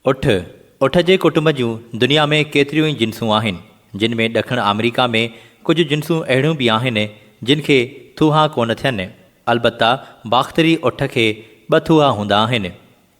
اٺ، اٺ جي ڪٽنب جون دنيا ۾ ڪيتريون ئي جنسون آهن، جن ۾ ڏکڻ آمريڪا ۾ ڪجهه جنسون اهڙيون به آهن، جن کي ٿوها ڪونه ٿين، البته باختري اٺ کي ٻه ٿوها هوندا آهن.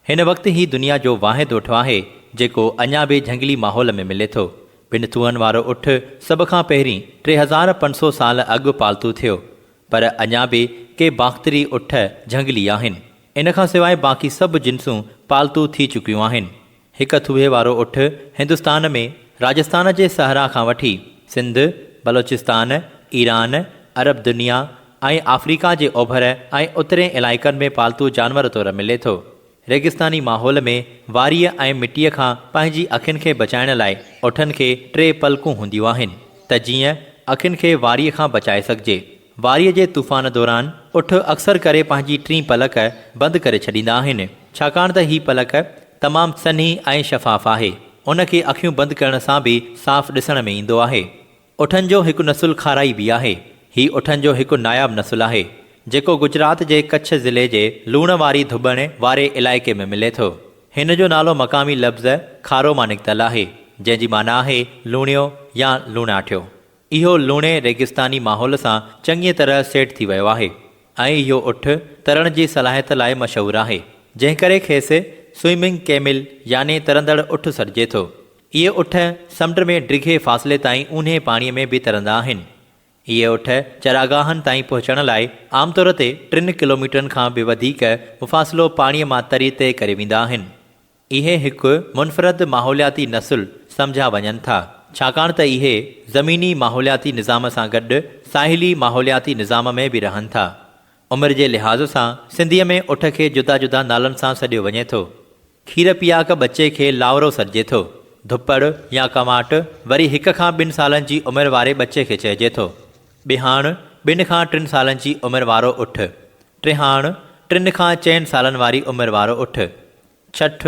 هن وقت هي دنيا جو واحد اٺ آهي، جيڪو اڃا به جهنگلي ماحول ۾ ملي ٿو. ٻن ٿوهن وارو اٺ سڀ کان پهرين ٽي هزار پنج سؤ سال اڳ پالتو ٿيو، پر اڃا به ڪي باختري اٺ جهنگلي آهن. ان کان سواء باقي سڀ جنسون پالتو ٿي چڪيون آهن. هڪ ٿوهي وارو اٺ هندستان ۾ راجستان جي صحرا کان وٺي سنڌ، بلوچستان، ايران، عرب دنيا ۽ آفريڪا جي اوڀر ۽ اترين علائقن ۾ پالتو جانور طور ملي ٿو. ريگستاني ماحول ۾ واريء ۽ مٽيء کان پنهنجي اکين کي بچائڻ لاء اٺن کي ٽي پلڪون هونديون آهن ته جيئن اکين کي واريء کان بچائي سگهجي. واريء جي طوفان دوران اٺ اڪثر ڪري پنهنجي ٽين پلڪ بند ڪري ڇڏيندا آهن، ڇاڪاڻ ته هي پلڪ تمام سنهي ۽ شفاف آهي، ان کي اکيون بند ڪرڻ سان به صاف ڏسڻ ۾ ايندو آهي. اٺن جو هڪ نسل کارائي به آهي. هي اٺن جو هڪ ناياب نسل آهي، جيڪو گجرات جي ڪڇ ضلعي جي لوڻ واري ڌٻڻ واري علائقي ۾ ملي ٿو. هن جو نالو مقامي لفظ کارو مان نڪتل آهي، جنهن جي معنيٰ آهي لوڻيو يا لوڻاٺيو. اهو لوڻي ريگستاني ماحول سان چڱيء طرح سيٽ ٿي ويو آهي ۽ اهو اٺ ترڻ جي صلاحيت لاء مشهور آهي، جنهن ڪري کيس Swimming Camel يعني ترندڙ اٺ سڏجي ٿو. اهي اٺ سمنڊ ۾ ڊگهي فاصلي تائين اونهي پاڻيء ۾ به ترندا آهن. اهي اٺ چراگاهن تائين پهچڻ لاء عام طور تي ٽن ڪلوميٽرن کان به وڌيڪ مفاصلو پاڻيء مان تري طئي ڪري ويندا آهن. اهي هڪ منفرد ماحولياتي نسل سمجهيا وڃن ٿا، ڇاڪاڻ ته اهي زميني ماحولياتي نظام سان گڏ ساحلي ماحولياتي نظام ۾ به رهن ٿا. عمر جي لحاظ سان سنڌيء ۾ اٺ کي جدا جدا نالن سان سڏيو وڃي ٿو. کير پياڪ ٻچي کي لانورو سڏجي ٿو. ڌپڙ يا ڪنواٽ وري هڪ کان ٻن سالن جي عمر واري ٻچي کي چئجي ٿو. ٻهاڻ ٻن کان ٽن سالن جي عمر وارو اٺ. ٽيهاڻ، ٽن کان چئن سالن واري عمر وارو اٺ. ڇٺ،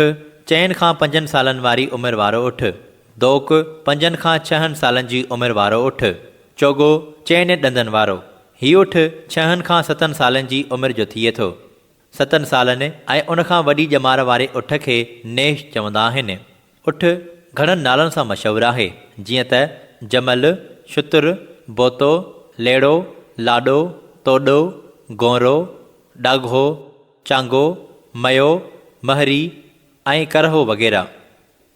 چئن کان پنجن سالن واري عمر وارو اٺ. دوڪ، پنجن کان ڇهن سالن جي عمر وارو اٺ. چوڳو، چئنين ڏندن وارو. هي اٺ ڇهن کان ستن سالن جي عمر جو ٿئي ٿو. ستن سالن ۽ ان کان وڏي ڄمار واري اٺ کي نيش چوندا آهن. اٺ گهڻن نالن سان مشهور آهي، جيئن ته جمل، شتر، بوتو، ليڙو، لاڏو، توڏو، گونرو، ڏاگهو، چانگو، ميو، مهري ۽ ڪرهو وغيره.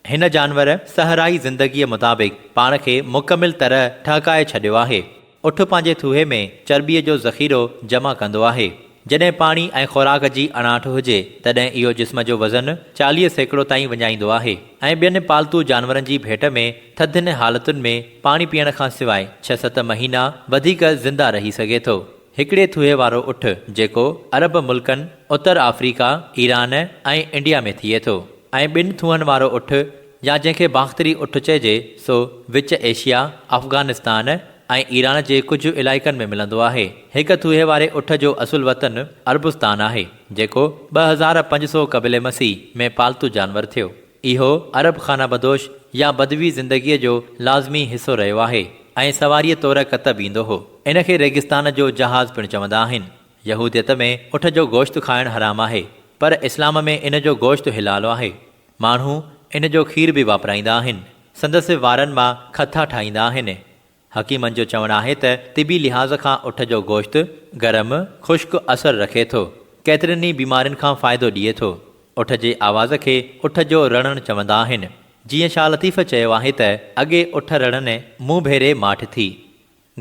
هن جانور صحرائي زندگيء مطابق پاڻ کي مڪمل طرح ٺهڪائي ڇڏيو آهي. اٺ پنهنجي ٿوهي ۾ چرٻيء جو ذخيرو جمع ڪندو آهي. جڏهن پاڻي ۽ خوراڪ جي اڻاٺ هجي، تڏهن اهو جسم جو وزن چاليهه سيڪڙو تائين وڃائيندو آهي ۽ ٻين پالتو جانورن جي ڀيٽ ۾ ٿڌين حالتن ۾ پاڻي پيئڻ کان سواء ڇهه ست مهينا وڌيڪ زنده رهي سگهي ٿو. هڪڙي ٿوهي وارو اٺ، جيڪو عرب ملڪن، اتر آفريڪا، ايران ۽ انڊيا ۾ ٿئي ٿو ۽ ٻن ٿوهن وارو اٺ، يا جنهن کي باختري اٺ چئجي سو وچ ايشيا، افغانستان ۽ ايران جي ڪجهه علائقن ۾ ملندو آهي. هڪ ٿوهي واري اٺ جو اصل وطن عربستان آهي، جيڪو ٻه هزار پنج سؤ قبل مسيح ۾ پالتو جانور ٿيو. اهو عرب خانه بدوش يا بدوي زندگيء جو لازمي حصو رهيو آهي ۽ سواريء طور ڪتب ايندو هو. ان کي ريگستان جو جهاز پڻ چوندا آهن. يهوديت ۾ اٺ جو گوشت کائڻ حرام آهي، پر اسلام ۾ ان جو گوشت حلال آهي. ماڻهو ان جو کير به واپرائيندا آهن. سندس وارن مان کٿا ٺاهيندا آهن. حڪيمن جو چوڻ آهي ته طبي لحاظ کان اٺ جو گوشت گرم، خشڪ اثر رکي ٿو. ڪيترين ئي بيمارين کان فائدو ڏئي ٿو. اٺ جي آواز کي اٺ جو رڙڻ چوندا آهن. جيئن شاهه لطيف چيو آهي ته، اڳي اٺ رڙني، مون ڀيري ماٺ ٿي.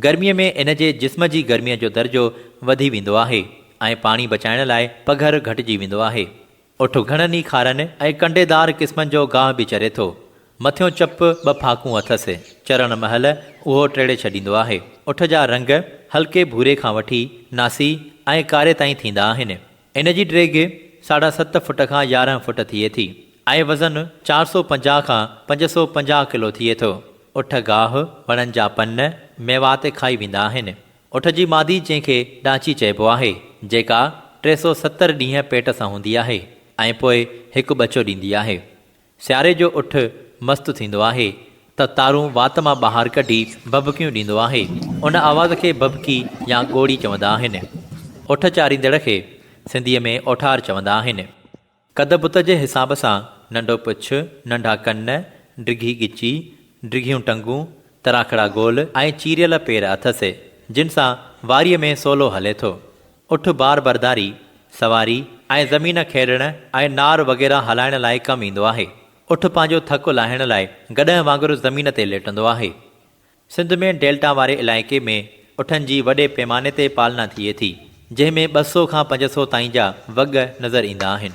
گرميء ۾ ان جي جسم جي گرميء جو درجو وڌي ويندو آهي ۽ پاڻي بچائڻ لاء پگهر گهٽجي ويندو آهي. اٺ گهڻن ئي کارن ۽ ڪنڊيدار قسمن جو گاهه به چري ٿو. مٿيون چپ ٻه ڦاڪون اٿس. چرڻ مهل اهو ٽيڙي ڇڏيندو آهي. اٺ جا رنگ هلڪي ڀوري کان وٺي ناسي ۽ ڪاري تائين ٿيندا آهن. ان جي ڊيگهه ساڍا ست فوٽ کان يارهن فوٽ ٿئي ٿي ۽ وزن چار سؤ پنجاهه کان پنج سؤ پنجاهه ڪلو ٿئي ٿو. اٺ گاهه، وڻن جا پن، ميوا تي کائي ويندا آهن. اٺ جي مادي جنهن کي ڏانچي چئبو آهي، جيڪا ٽي سؤ ستر ڏينهن پيٽ سان هوندي آهي ۽ پوء هڪ ٻچو ڏيندي آهي. سياري جو اٺ مست ٿيندو آهي ته تارون وات مان ٻاهر ڪڍي ڀڀڪيون ڏيندو آهي. ان آواز کي ڀڀڪي يا ڳوڙي چوندا آهن. اٺ چاريندڙ کي سنڌيء ۾ اوٺار چوندا آهن. قد بت جي حساب سان ننڍو پڇ، ننڍا ڪن، ڊگهي ڳچي، ڊگهيون ٽنگون، تراکڙا گول ۽ چيريل پير اٿس، جن سان واريء ۾ سولو هلي ٿو. اٺ بار برداري، سواري، ۽ زمين کيڙڻ ۽ نار وغيره هلائڻ لاء ڪم ايندو آهي. اٺ پنهنجو ٿڪ لاهڻ لاء گڏهه وانگر زمين تي ليٽندو آهي. سنڌ ۾ ڊيلٽا واري علائقي ۾ اٺن جي وڏي پيماني تي پالنا ٿئي ٿي، جنهن ۾ ٻه سؤ کان پنج سؤ تائين جا وڳ نظر ايندا آهن.